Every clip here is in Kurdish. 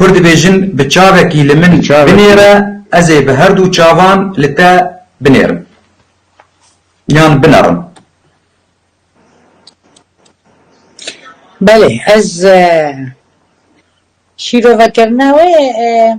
Kur dibêjin bi çavekî li min binêre ez ê bi herdû çavan li te binêrim yan binerim. Belê ez şîrovekirina wê.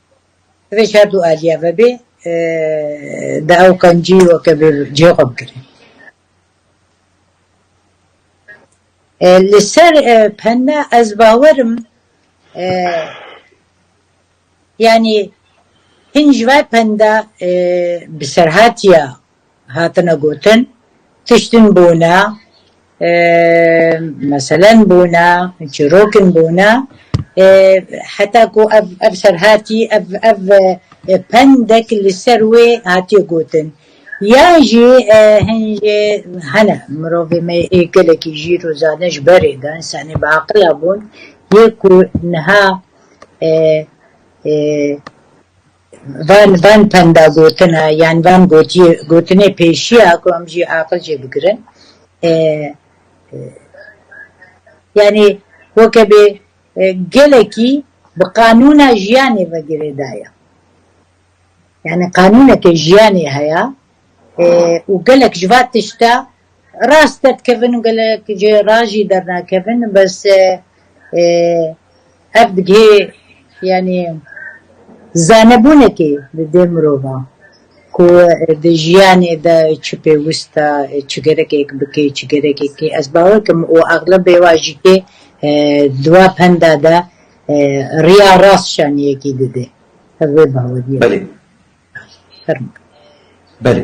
Divê şer du aliye ve bê, di ew qencî weke bi cihê xwe bigire. Li ser penne ez bawer im yanî hin ji ber pende bi serhatiya Hatine gotin tiştin bûne, meselen bûne, çîrokin bûne, heta ku ev ev serhatî, ev ev pendek li ser wê hatiye gotin. Yan jî hin jî hene, mirovê me yê gelekî jîr û zana ji berê de, însanê biaqila bûn, yê ku niha Van van penda gotin e yan van gotiyê gotinê pêşî ya ku em jî aqil jê bigirin e yanî weke bê gelekî bi qanûna jiyanê ve girêda ye. Yanî qanûneke jiyanê heya e û gelek ji va tişta Rast derdikevin gelek ji ra jî dernakevin bes ev digihê yanî zanebûnekê li dê mirovan ku di jiyanê de çi pêwist e çi gerekek bike çi gerekek tê ez bawer dikim û exlebê wan jî tê di wan penda de riya rast şaniyekî dide ev wê baweriyê min e. Belê. Belê.